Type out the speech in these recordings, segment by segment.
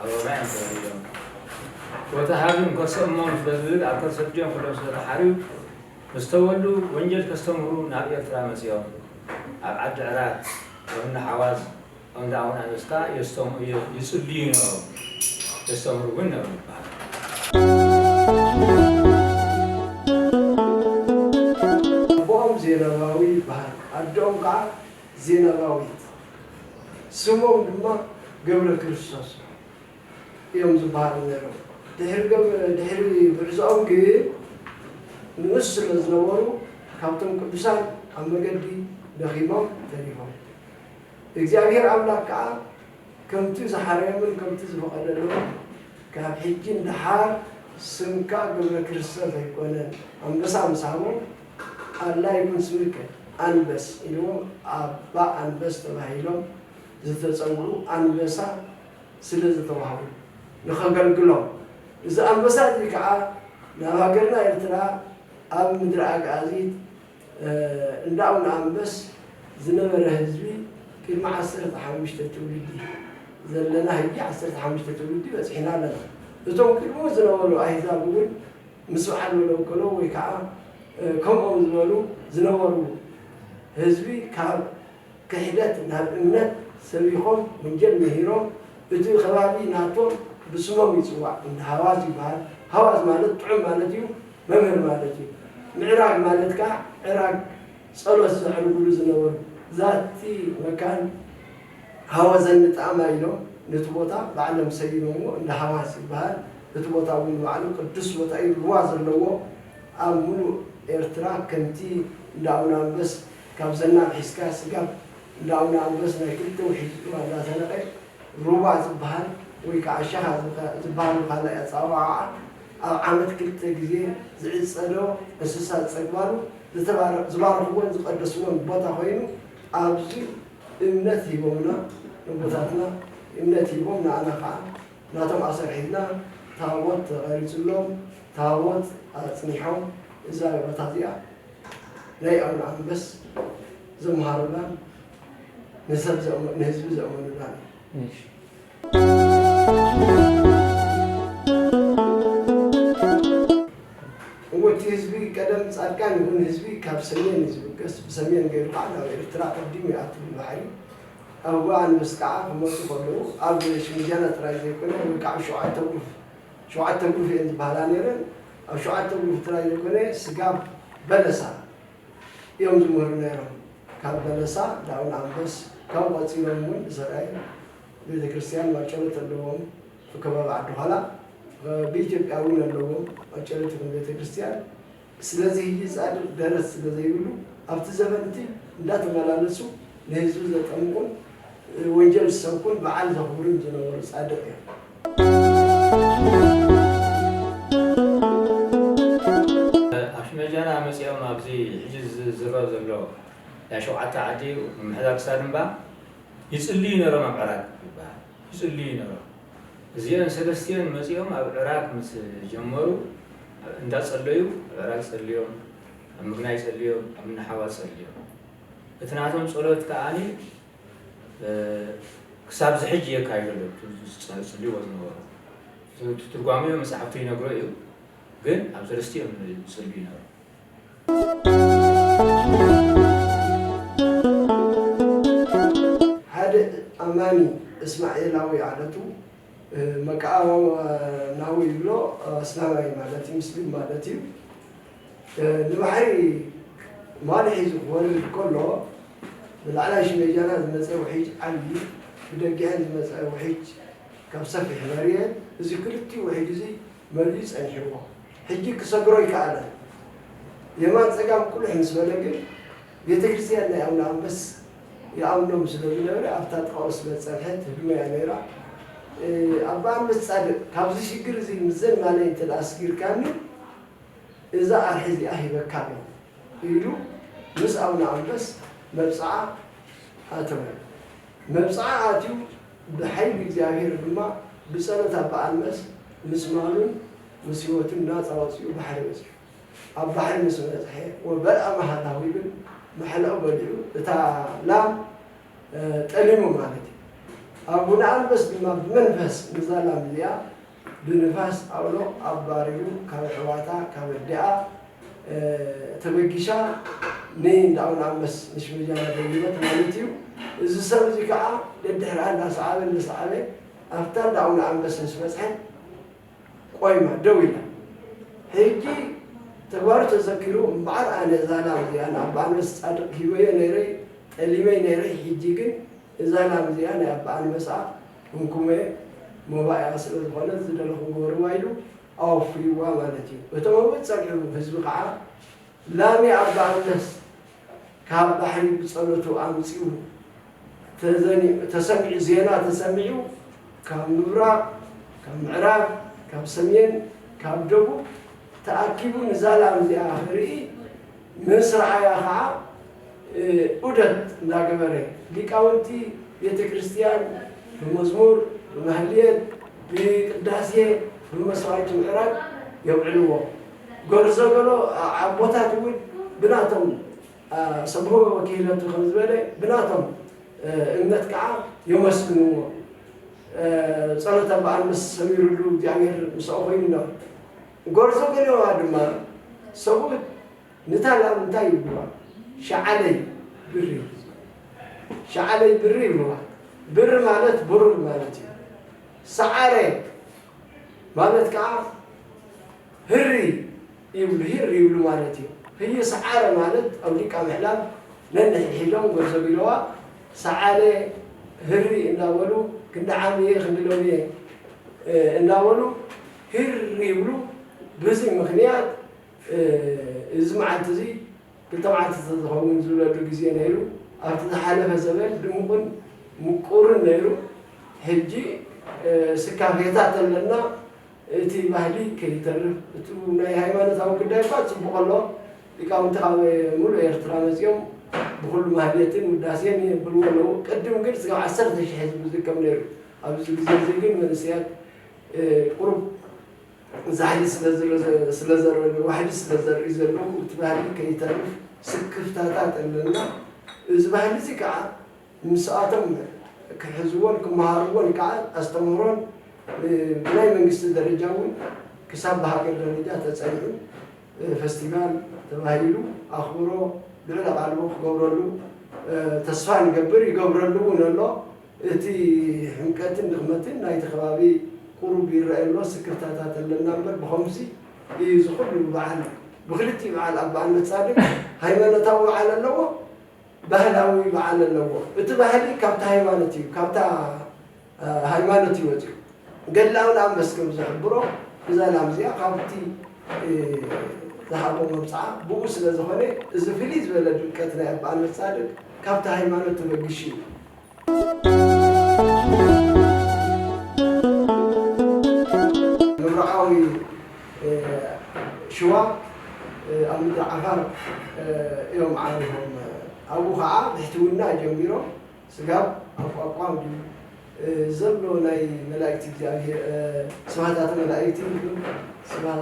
ኣበባ እዮም ተወሊዶም። ፎቶ ሃብን ከርሰ እሞም ስለዝብል ኣብ ከርሰ ኣዲኦም ከለዉ ስለተሓርዩ ምስ ተወልዱ ወንጀል ከስተምህሩ ናብ ኤርትራ መጺኦም። ኣብ ዓዲ ዕራት፣ ኣብ እንዳ ሓዋዝ፣ ኣብ እንዳ ኣቡነ ኣንዮስ ከኣ የስተምኡ ይጽልዩ ነበሩ። የስተምህሩ እውን ነበሩ ይበሃል። ኣቦኦም ዜናማዊ ይበሃል። ኣደኦም ከኣ ዜናባዊት ስሞም ድማ ገብረክርስቶስ እዮም ዝበሃሉ ነይሮም። ድሕሪ ጉዕዞኦም ግን ንኡስ ስለ ዝነበሩ ካብቶም ቅዱሳን ኣብ መገዲ ደኺሞም ተሪፎም። እግዚኣብሔር ኣምላክ ከኣ ከምቲ ዝሓረዮምን ከምቲ ዝፈቐደሎምን ካብ ሕጂ ንደሓር ስምካ ገብረክርስቶስ ኣይኮነን ኣንበሳ ምስ ሃቦም፣ ኣላ ይኩን ስምከ ኣንበስ ኢልዎም ኣባ ኣንበስ ተባሂሎም ዝተጸውዑ ኣንበሳ ስለ ዝተዋህቡ ንኸገልግሎም እዚ ኣንበሳ እዚ ከኣ ናብ ሃገርና ኤርትራ ኣብ ምድሪ ኣግኣዚት እንዳ ኣቡነ ኣንበስ ዝነበረ ህዝቢ ቅድሚ ዓሰርተ ሓሙሽተ ትውልዲ ዘለና ህጂ ዓሰርተ ሓሙሽተ ትውልዲ በጺሕና ኣለና እቶም ቅድሙ ዝነበሩ ኣህዛብ እውን ምስ በዓል መደንኮሎ ወይ ከኣ ከምኦም ዝበሉ ዝነበሩ ህዝቢ ካብ ክሕደት ናብ እምነት ሰቢኾም ወንጀል ምሂሮም እቲ ከባቢ ናቶም ብስሞም ይጽዋዕ እንዳ ሃዋዝ ይበሃል ሃዋዝ ማለት ጥዑም ማለት እዩ መምህር ማለት እዩ ምዕራግ ማለት ከኣ ዕራግ ጸሎት ዘዕርጉሉ ዝነበሩ ዛቲ መካን ሃወዘኒ ጣእማ ኢሎም ነቲ ቦታ ባዕሎም ሰይሞምዎ እንዳ ሃዋስ ይበሃል እቲ ቦታ እውን ንባዕሉ ቅዱስ ቦታ እዩ ሩባ ዘለዎ ኣብ ሙሉእ ኤርትራ ከምቲ እንዳ ኣውናንበስ ካብ ዘናብ ሒዝካ ስጋብ እንዳ ኣውናንበስ ናይ ክልተ ውሒጅ ሩባ እንዳ ሰነቀ ሩባ ዝበሃል ወይ ከዓ ሸኻ ዝበሃል ብካልእ ኣፀዋውዓ ኣብ ዓመት ክልተ ግዜ ዝዕፀዶ እንስሳ ዝፀግባሉ ዝተባረክ ዝባረኽዎን ዝቀደስዎን ቦታ ኮይኑ ኣብዚ እምነት ሂቦምና ነቦታትና እምነት ሂቦም ንኣና ካዓ ናቶም ኣሰርሒብና ታቦት ተቀሪፅሎም ታቦት ኣፅኒሖም እዛ ቦታ እዚኣ ናይ ኣቡነ ኣንበስ ዘምሃሩላን ንሰብ ንህዝቢ ዘእመኑላን እዩ። እወ እቲ ህዝቢ ቀደም ጻድቃን ይኹን ህዝቢ ካብ ሰሜን እዩ ዝብገስ ብሰሜን ገይሩ ከዓ ናብ ኤርትራ ቀዲሙ ይኣቱ ብባሕሪ ኣብ እግሪ ኣንበሲ ከዓ ክመጹ ከለዉ ኣብ ሽምጃና ጥራይ ዘይኮነ ወይ ከዓ ሸውዓተ ጉርፍ ሸውዓተ ጉርፍ እየን ዝበሃላ ነይረን ኣብ ሸውዓተ ጉርፍ ጥራይ ዘይኮነ ስጋብ በለሳ እዮም ዝምህሩ ነይሮም ካብ በለሳ ዳውን ኣንበስ ካብኡ ቀጺሎም እውን ሰራይ ቤተክርስትያን ማጨሎት ኣለዎም ኣብ ከባቢ ዓዲ ዃላ ብኢትዮጵያ እውን ኣለዎም ማጨሎት ይኹን ቤተክርስትያን ስለዚ ህጂ ፃድቅ ደረት ስለ ዘይብሉ ኣብቲ ዘበን እቲ እንዳተመላለሱ ንህዝቢ ዘጠምቁን ወንጀል ዝሰብኩን በዓል ዘኽብሩን ዝነበሩ ፃድቅ እዮም። ኣፍመጃና መፂኦም ኣብዚ ሕጂ ዝዝረብ ዘሎ ናይ ሸውዓተ ዓዲ ምምሕዳር ክሳድምባ ይጽልዩ ነሮም ኣብ ዕራግ ይበሃል ይጽልዩ ነሮም እዚኦን ሰለስቲኦን መጺኦም ኣብ ዕራግ ምስ ጀመሩ ኣብ እንዳ ጸለዩ ኣብ ዕራግ ጸልዮም ኣብ ምግናይ ጸልዮም ኣብ እንሓዋ ጸልዮም እቲ ናቶም ጸሎት ከኣ ክሳብ ዝሕጂ የካይዱ ኣለዉ ጽልዎ ዝነበሩ ትርጓሜኡ መጻሕፍቱ ይነግሮ እዩ ግን ኣብ ሰለስቲኦም ይጽልዩ ነሮም ሓደ ኣማኒ እስማኤላዊ ዓለቱ መቃኣናዊ ይብሎ ኣስላማይ ማለት ሙስሊም ማለት እዩ ንባሕሪ ማል ሒዙ ክወርድ ከሎ ብላዕላይ ሽመጃና ዝመፀ ውሒጅ ዓብዪ ብደጊዐን ዝመፀ ውሒጅ ካብ ሰፊሕ መርየት እዚ ክልቲኡ ውሒጅ እዚ መሊኡ ፀኒሕዎ ሕጂ ክሰግሮ ኣይከኣለን። የማን ጸጋም ቁልሕ ምስ በለ ግን ቤተክርስትያን ናይ ኣቡነ ኣንበስ ይኣምኖም ስለ ዝነበረ ኣብታ ጥቓኡ ስለ ዝጸንሐ ትህድሞ'ያ ነይራ። ኣባ ኣንበስ ጻድቕ ካብዚ ሽግር እዚ ምስዘን ማለይ እንተ ደኣ ኣስጊርካኒ እዛ ኣርሒ እዚኣ ሂበካ ኣለኹ ኢሉ ምስ ኣቡነ ኣንበስ መብጽዓ ኣተወ። መብጽዓ ኣትዩ ብሓይሊ እግዚኣብሔር ድማ ብጸሎት ኣባ ኣንበስ ምስ ማሉን ምስ ህይወቱ ናጻ ወጺኡ ባሕሪ በጺሑ። ኣብ ባሕሪ ምስ በጽሐ ወበልዐ መሃላሁ ይብል መሐለኡ በሊዑ እታ ላም ጠሊሙ ማለት እዩ። ኣቡነ ኣንበስ ድማ ብመንፈስ ንዛ ላም እዚኣ ብንፋስ ኣውሎ ኣባሪሩ ካብ ኣሕዋታ ካብ ኣዲኣ ተበጊሻ ንእንዳ ኣቡነ ኣንበስ ንሽመጃና ደሊበት ማለት እዩ። እዚ ሰብ እዚ ከኣ ደድሕራ እንዳሰዓበ እንዳሰዓበ ኣብታ እንዳ ኣቡነ ኣንበስ ምስ በጽሐ፣ ቆይማ ደው ኢላ። ሕጂ ተግባሩ ተዘኪሩ፣ እምበኣር ኣነ እዛ ላም እዚኣ ንኣባ ኣንበስ ጻድቕ ሂበዮ ነይረ፣ ጠሊመ ነይረ፣ ሕጂ ግን እዛ ላም እዚኣ ናይ ኣባ ኣንበሳ እንኩመ መባኢኣ ስለ ዝኾነት ዝደለኹም ግበርዋ ኢሉ ኣወፍይዋ ማለት እዩ። እቶም ኣብኡ ዝጸንሑ ህዝቢ ከኣ ላሚ ኣባ ኣንበስ ካብ ባሕሪ ብጸሎቱ ኣምጺኡ ተዘኒዑ ተሰሚዑ ዜና ተሰሚዑ ካብ ምብራቕ ካብ ምዕራብ ካብ ሰሜን ካብ ደቡብ ተኣኪቡ ንዛ ላም እዚኣ ክርኢ ምስ ረኣያ ኸኣ ዑደት እንዳገበረ ሊቃውንቲ ቤተ ክርስቲያን ብመዝሙር ብማህሌት ብቅዳሴ ብመስዋዕቲ ምዕራግ የውዕልዎ ጎርዞ ገሎ ኣቦታት እውን ብናቶም ሰብእዎ ወኪህለቱ ከም ዝበለ ብናቶም እምነት ከዓ የመስግንዎ ጸሎት ኣባኣንበስ ሰሚሩሉ እግዚኣብሔር ምስኦ ኮይኑ ኖር ጎርዞ ገሎዋ ድማ ሰብኡት ንታ ላም እንታይ ይብልዋ ሸዓለይ ብሪ ሸዓለይ ብሪ ይብልዋ ብሪ ማለት ብሩር ማለት እዩ ሰዓረ ማለት ከዓ ህሪ ይብሉ ሂር ይብሉ ማለት እዩ ህዩ ሰዓረ ማለት ኣውዲቃ ምሕላፍ ነንሕድሒዶም ጎርዞቢለዋ ሰዓለ ህሪ እንዳበሉ ክንዲ ዓሚየ ክንዲ ሎሚየ እንዳበሉ ሂር ይብሉ ብዚ ምክንያት እዚ መዓልቲ እዚ ክልተ መዓልቲ ተዝከውን ዝብለሉ ግዜ ነይሩ ኣብቲ ዝሓለፈ ዘበን ድሙቁን ምቁርን ነይሩ ሕጂ ስካፌታት ኣለና እቲ ባህሊ ከይተርፍ እቱ ናይ ሃይማኖታዊ ጉዳይ እኳ ፅቡቕ ኣሎ ሊቃውንቲ ካብ ሙሉእ ኤርትራ መፂኦም ብኹሉ ማህሌትን ውዳሴን የብልዎ ኣለዉ ቅድም ግን እስካብ ዓሰርተ ሽሕ ህዝቢ ዝከብ ነይሩ ኣብዚ ግዜ እዙይ ግን መንእሰያት ቁሩብ ዛሕሊ ስለዘረገ ዋሕዲ ስለዘርእዩ ዘለዉ እቲ ባህሊ ከይተርፍ ስክፍታታት ኣለና እዚ ባህሊ እዙይ ከዓ ምስኣቶም ክሕዝዎን ክመሃርዎን ከኣ ኣስተምህሮን ብናይ መንግስቲ ደረጃ እውን ክሳብ ብሃገር ደረጃ ተጸኒዑ ፈስቲቫል ተባሂሉ ኣኽብሮ ልዑል ኣቓልቦ ክገብረሉ ተስፋ ንገብር ይገብረሉ እውን ኣሎ። እቲ ሕምቀትን ድኽመትን ናይቲ ከባቢ ቁሩብ ይረኣይ ኣሎ ስክፍታታት ኣለና እምበር ብኸምዚ እዩ ዝኹሉ በዓል ብኽልቲኡ በዓል ኣባ ኣነጻድቅ ሃይማኖታዊ በዓል ኣለዎ። ባህላዊ በዓል ኣለዎ። እቲ ባህሊ ካብታ ሃይማኖት እዩ ካብታ ሃይማኖት እዩ ወጺኡ። ገድላዊ ላም መስ ከም ዝሕብሮ እዛ ላም እዚኣ ካብቲ ዝሃቦ መብጽዓ ብኡ ስለ ዝኾነ እዚ ፍልይ ዝበለ ድምቀት ናይ ኣባ ኣንበሳድግ ካብቲ ሃይማኖት ተበጊሱ እዩ። ምብራቓዊ ሽዋ ኣብ ምድሪ ዓፋር እዮም ዓሪፎም። ኣብኡ ኸዓ ብሕትውና ጀሚሮም ስጋብ ኣቋቋም ድዩ ዘሎ ናይ መላእክቲ እግዚኣብሄር ስብሐታተ መላእክቲ ይኹን ስብሐ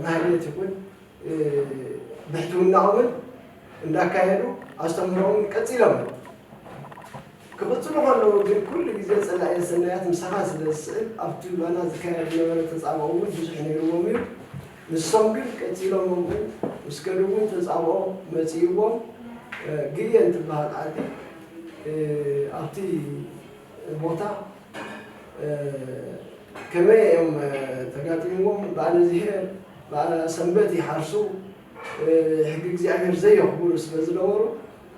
ማህሌት ይኹን ብሕትውናኦምን እንዳካየዱ ኣስተምህሮኦም ቀጺሎም ክቕጽሉ ከለዉ ግን ኩሉ ግዜ ጸላእየ ሰናያት ምሳኻ ስለ ዝስእል ኣብቲ ባና ዝካየድ ዝነበረ ተጻብኦ እውን ብዙሕ ነይርዎም እዩ። ንሶም ግን ቀጺሎም ኣብኡ ምስ ከዱ እውን ተጻብኦ መጺእዎም ግየን ትበሃል ዓዲ ኣብቲ ቦታ ከመይ እዮም ተጋጢምዎም በዓል እዝሄር በዓል ሰንበት ይሓርሱ ሕጊ እግዚኣብሔር ዘየኽብሩ ስለ ዝነበሩ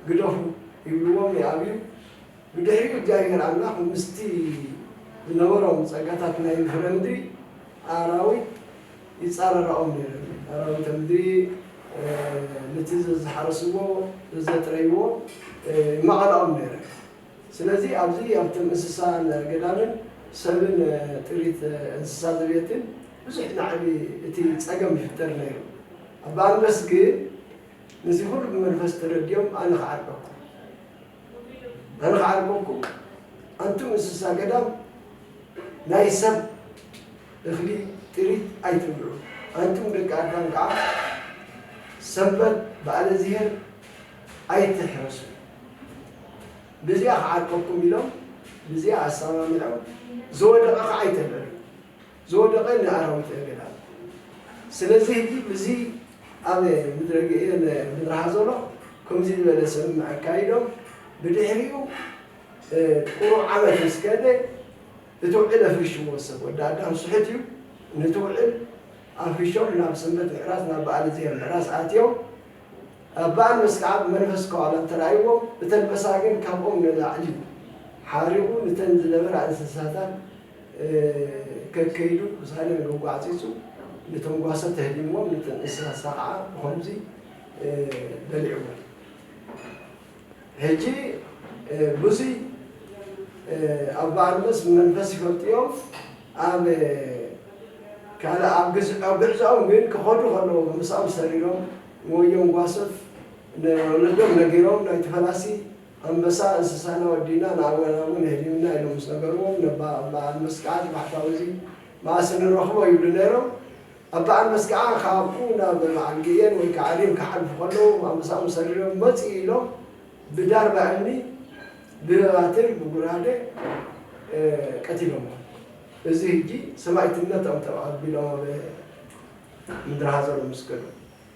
ግደፉ ይብልዎም ይኣብዩ ብድሕሪኡ እግዚኣብሔር ኣምላኽ ምስቲ ዝነበሮም ጸጋታት ናይ ፍረ ምድሪ ኣራዊት ይጻረራኦም ነይሩ ኣራዊተ ምድሪ ነቲ ዘዝሓረስዎ ዘዘጥረይዎ ይማቐላኦም ነይረ ስለዚ ኣብዚ ኣብቲ እንስሳን ኣገዳምን ሰብን ጥሪት እንስሳ ዘቤትን ብዙሕ ናዕቢ እቲ ጸገም ይፍጠር ነይሩ። ኣባ ኣንድረስ ግን ነዚ ኩሉ ብመንፈስ ተረዲኦም ኣነ ክዓርቀኩም ኣነ ክዓርቀኩም ኣንቱም እንስሳ ገዳም ናይ ሰብ እኽሊ ጥሪት ኣይትብልዑ ኣንቱም ደቂ ኣዳም ከኣ ሰንበት በዓለ እዚሄር ኣይትሕረሱ ብዚኣ ክዓርቀኩም ኢሎም ብዚኣ ኣሳማሚዖም ዝወደቀ ካዓ ኣይተልዕሉ ዝወደቀ ንኣራዊት እገዳሉ ስለዚ ህጂ ብዚ ኣብ ምድረ ግኤን ምድረ ሃዞሎ ከምዚ ዝበለ ሰምምዕ ኣካይዶም ብድሕሪኡ ቁሩብ ዓመት ምስ ከደ እቲ ውዕል ኣፍሪሽዎ ሰብ ወዲ ኣዳም ስሑት እዩ ነቲ ውዕል ኣፍሪሾም ናብ ሰንበት ምሕራስ ናብ በኣል እዝሄር ምሕራስ ኣትዮም እባ ኣነስ ከኣ ብመንፈስ ከዋለት ተራእይዎም እተን መሳግን ካብኦም ንላዕሊ ሓሪቑ ንተን ዝነበራ እንስሳታት ከከይዱ ክሳደን ገጓዕጺጹ ነቶም ጓሶት ተህሊምዎም ነተን እንስሳ ከኣ ብኸምዚ በሊዕወን። ሕጂ ሉሲ ኣብ ባርኖስ መንፈስ ይፈልጥዮም ኣብ ካልእ ኣብ ግዕዞኦም ግን ክኸዱ ከለዉ ብምሳኦም ሰሪሮም ንወዮም ጓሶት ንወለዶም ነጊሮም ናይቲ ፈላሲ ኣንበሳ እንስሳና ወዲእና ንኣወናውን የህሊምና ኢሎም ምስ ነገርዎም ነባ ኣባ ኣልመስ ከኣ እቲ ባሕታዊ እዚ መኣስ እንረኽቦ ይብሉ ነይሮም ኣብ በዓል መስቀዓ ክኣክቡ ናብ በዓል ግየን ወይ ከዓ ሪም ክሓልፉ ከለዉ ማምሳኦም ሰሪሮም መፅኡ ኢሎም ብዳርባ እምኒ፣ ብባትር፣ ብጉራደ ቀቲሎምዎም። እዚ ህጂ ሰማኢትነቶም ተባሂሉ ኣቢሎም ኣብ ምድረ ሃዘሎም ምስ ከዱ።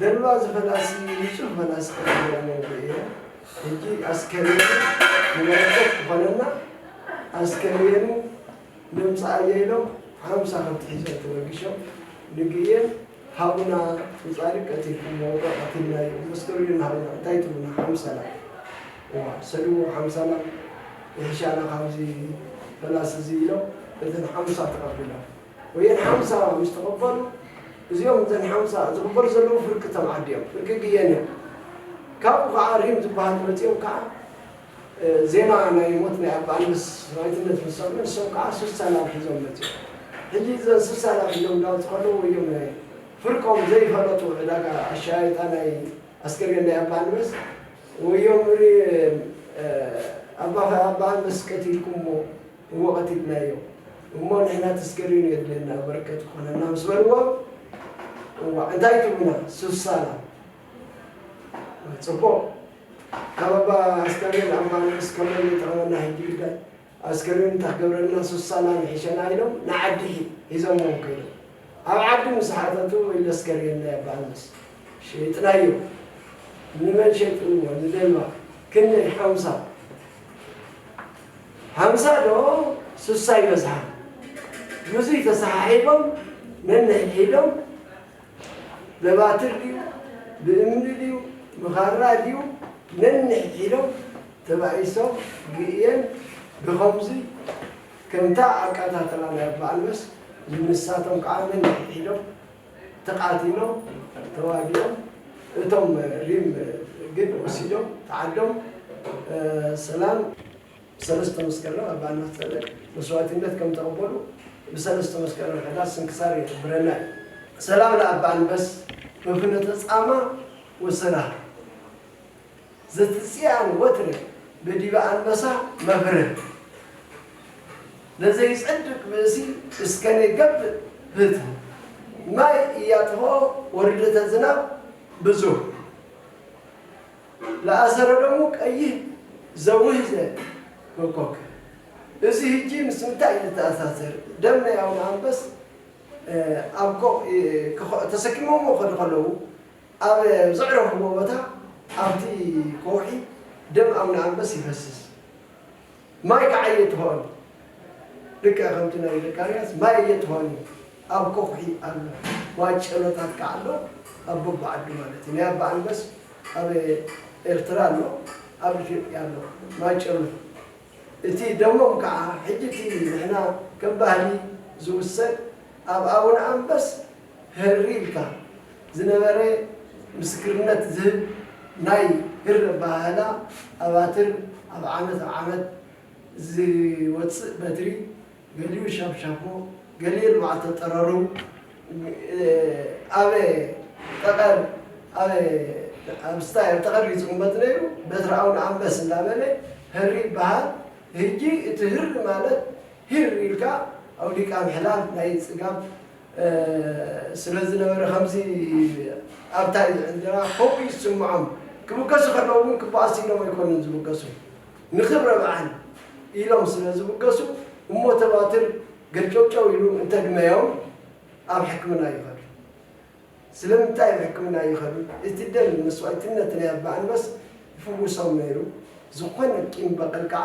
ዘረባ ዝኸድኣሲ ንጹህ መላስ ክነግረኒ ርእየ ሕጂ ኣስከሬኑ ንበረከት ክኾነና ኣስከሬኑ ነምጽኣዮ ኢሎም ሓምሳ ከብቲ ሒዞም ተበጊሾም ንግእየን ሃቡና ንጻድቅ ቀቲልኩሞ ዶ ቀቲልናዮ መስከሩልን ሃቡና እንታይ ትብሉና ሓምሳ ላም እዋ ሰድዎ ሓምሳ ላም ይሕሻና ካብዚ ፈላሲ እዚ ኢሎም እተን ሓምሳ ተቀቢሎም ወየን ሓምሳ ምስ ተቐበሉ፣ እዚኦም እተን ሓምሳ ዝቕበሉ ዘለዉ ፍርቂ ተምዓዲ እዮም፣ ፍርቂ ግየን እዮም። ካብኡ ከኣ ሪም ዝበሃሉ መጺኦም ከኣ ዜና ናይ ሞት ናይ ኣባ ኣንበስ ሰማይትነት ምስ ሰምዑ ንሶም ከኣ ስሳ ላብ ሒዞም መጺኦም። ሕጂ እዘን ስሳ ላብ ሒዞም እንዳወጹ ከለዉ ወዮም ናይ ፍርቆም ዘይፈለጡ ዕዳጋ ኣሻያይጣ ናይ ኣስከሬን ናይ ኣባ ኣንበስ ወዮም ሪም ኣባ ኣንበስ ቀቲልኩሞ፣ እወ ቀቲልናዮ እሞ ንሕና ተስከሬኑ የድልየና በረከት ክኾነና ምስ በልዎም እዋእ እንታይ ትብሉና ሱሳላ ፅቡቕ ካብ ኣባ ኣስከሬን ኣባ ንኡስ ከመን ይጥዕመና ሕጂ ግዳይ ኣስከሬን እንታይ ክገብረልና ሱሳላ ንሕሸና ኢሎም ንዓዲ ሒዞምዎም ከይዶም ኣብ ዓዲ ምስ ሓተቱ ወይ ለስከሬን ናይ ኣባ ንኡስ ሸይጥናዮ ንመን ሸይጥንዎ ንደልባ ክንደይ ሓምሳ ሃምሳ ዶ ስሳ ይበዝሓ ብዙይ ተሰሓሒቦም ነንሕድሒዶም በባትር ድዩ ብእምኒ ድዩ ብኻራ ድዩ ነንሕድሒዶም ተባኢሶም ግእየን ብኸምዚ ከምታ ኣቃታትላ ናይ ኣባ ኣልመስ ዝንሳቶም ከኣ ነንሕድሒዶም ተቃቲሎም ተዋጊኦም እቶም ሪም ግን ወሲዶም ተዓዶም ሰላም ሰለስተ መስከረም ኣብ በዓል ማህጸነ መስዋእቲነት ከም ተቀበሉ ብሰለስተ መስከረም ሕዳር ስንክሳር ይሕብረና እዩ። ሰላም ለኣባ ኣንበስ በፍኖተ ጻማ ወሰላም። ዘትጽያን ወትረ በዲበ ኣንበሳ መብርህ ለዘይጸድቅ ብእሲ እስከኔ ገብእ ፍትህ ማይ እያጥፍኦ ወርደተ ዝናብ ብዙህ ለኣሰረ ደሙ ቀይህ ዘውህዘ ኮኮክ እዚ ህጂ ምስ ምንታይ እዩ ዝተኣሳሰር ደም ናይ ኣቡነ ኣንበስ ኣብ ኮኽ ተሰኪሞሞ ክኸዱ ከለዉ ኣብ ዘዕረፍዎ ቦታ ኣብቲ ከውሒ ደም ኣቡነ ኣንበስ ይፈስስ። ማይ ከኣ ኣየትሆን። ልክዕ ከምቲ ናይ ዘካርያስ ማይ ኣየትሆን እዩ። ኣብ ከውሒ ኣሎ። ማጨሎታት ከኣ ኣሎ ኣብ በብዓዱ ማለት እዩ። ናይ ኣባ ኣንበስ ኣብ ኤርትራ ኣሎ ኣብ ኢትዮጵያ ኣሎ ማጨሎ። እቲ ደሞም ከኣ ሕጂ እቲ ንሕና ከም ባህሊ ዝውሰድ ኣብ ኣቡነ ኣንበስ ህርር ኢልካ ዝነበረ ምስክርነት ዝህብ ናይ ህር ኣበሃህላ ኣባትር ኣብ ዓመት ኣብ ዓመት ዝወጽእ በትሪ ገሊኡ ሻብሻቦ ገሊኡ ንመዓልተ ጠረሩ ኣብ ጠቐር ኣብ ኣብ ስታይ ኣብ ጠቐር እዩ ዝቕመጥ ነይሩ በትሪ ኣውነ ኣንበስ እንዳበለ ህር ይበሃል ህጂ እቲ ህር ማለት ሂር ኢልካ ኣውዲቃ ምሕላፍ ናይ ጽጋብ ስለ ዝነበረ ከምዚ ኣብታ እንጀራ ከምኡ ይስምዖም። ክብገሱ ከለዉ እውን ክበኣሱ ኢሎም ኣይኮኑን ዝብገሱ ንክብረ በዓል ኢሎም ስለ ዝብገሱ እሞ ተባትር ገርጨውጨው ኢሉ እንተግመዮም ኣብ ሕክምና ይኸዱ። ስለምንታይ ኣብ ሕክምና ይኸዱ እቲ ደም መስዋእትነት ናይ ኣባ ኣንበስ ይፍውሶም ነይሩ ዝኾነ ቂም በቐል ከዓ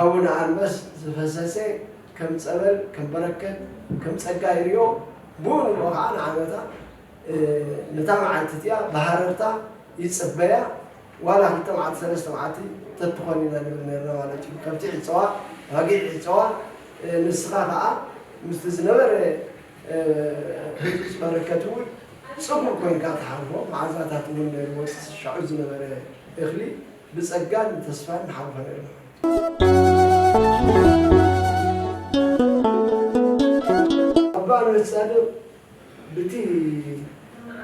ኣቡነ ኣንበስ ዝፈሰሰ ከም ጸበል ከም በረከት ከም ጸጋ ይሪኦ ብኡ ንብኡ ከኣ ንዓመታ ነታ መዓልቲ እቲኣ ብሃረርታ ይጽበያ ዋላ ክልተ መዓልቲ ሰለስተ መዓልቲ ተትኾን ኢና ንብል ነርና ማለት እዩ ከብቲ ይዕጸዋ ኣባጊዕ ይዕጸዋ ንስኻ ከኣ ምስቲ ዝነበረ ህጹጽ በረከት እውን ጽቡቕ ኮይንካ ትሓልፎ መዓዛታት እውን ነይርዎ እቲ ሻዑ ዝነበረ እኽሊ ብጸጋን ተስፋን ንሓልፈሉ ኢና ኣባ ነብስ ጻድቅ ብቲ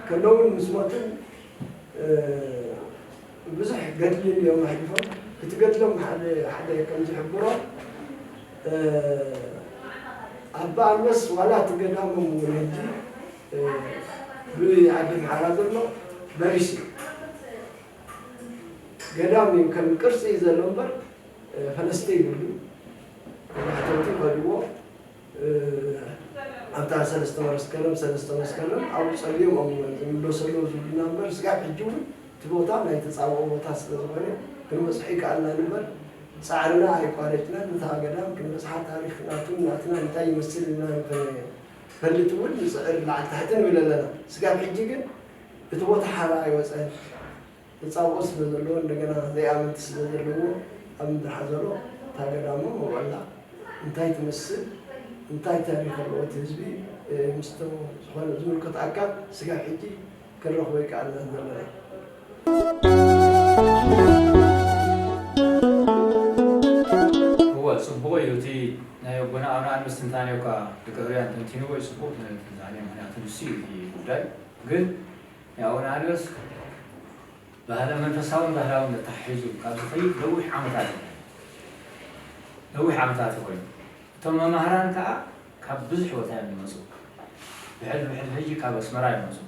ከለውን ምስ ሞትን ብዙሕ ገድሊ እዮም ኣሕሊፎም እቲ ገድሎም ሓደ ሓደ ከም ዝሕብሮ ኣባ ኣንበስ ዋላ እቲ ገዳሞም እውን ሕጂ ብዓዲ ምሓራ ዘሎ በሪስ እዩ ገዳም እዩ ከም ቅርሲ እዩ ዘሎ እምበር ፈለስቲ የብሉን ማሕተብቲ ይኸድዎ ኣብታ ሰለስተ መስከረም ሰለስተ መስከረም ኣብኡ ፀልዮም እዮም ዝምለሰሉ ዝብሉና እምበር ስጋብ ሕጂ እውን እቲ ቦታ ናይ ተፃብኦ ቦታ ስለዝኾነ ክንበፅሖ ይከኣልና እምበር ፃዕርና ኣይቋረፅናን እታ ገዳም ክንበፅሓ ታሪክ ናቱን ናትና እንታይ ይመስል ኢልና ንክንፈልጥ እውን ንፅዕር ላዕሊ ታሕቲ ንብል ኣለና ስጋብ ሕጂ ግን እቲ ቦታ ሓራ ኣይወጸን ተጻብኦ ስለ ዘለዎ እንደገና ዘይኣመንቲ ስለ ዘለዎ ኣብ ምድሪ ሓዘሮ እታ ገዳሞ መውዕላ እንታይ ትመስል እንታይ ታሪኽ ኣለዎ እቲ ህዝቢ ምስቶ ዝኾነ ዝምልከቶ ኣካል ስጋብ ሕጂ ክንረኽቦ ኣይከኣልናን ዘለና። እወ ጽቡቕ እዩ እቲ ናይ ኣቦና ኣብርሃን ምስትንታኔ እኳ ድቂ ህርያን ተንቲንዎ እዩ ጽቡቕ ትንታኔ ምኽንያቱ ንሱ እዩ እቲ ጉዳይ። ግን ንኣውራሪዎስ ባህለ መንፈሳውን ባህላውን ኣተሓሒዙ ካብ ዝኸይድ ነዊሕ ዓመታት እዩ ነዊሕ ዓመታት እዩ ኮይኑ እቶም መማህራን ከኣ ካብ ብዙሕ ቦታ እዮም ዝመጹ ብሕልፊ ብሕልፊ ሕጂ ካብ ኣስመራ ይመጹ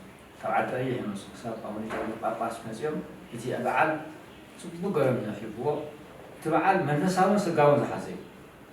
ካብ ዓዲ ቀይሕ ይመጹ ክሳብ ኣቡነ ገብረ ጳጳስ መጺኦም እቲ በዓል ጽቡቅ ገሮም እዩ ኣኽሊፍዎ እቲ በዓል መንፈሳውን ስጋውን ዝሓዘ እዩ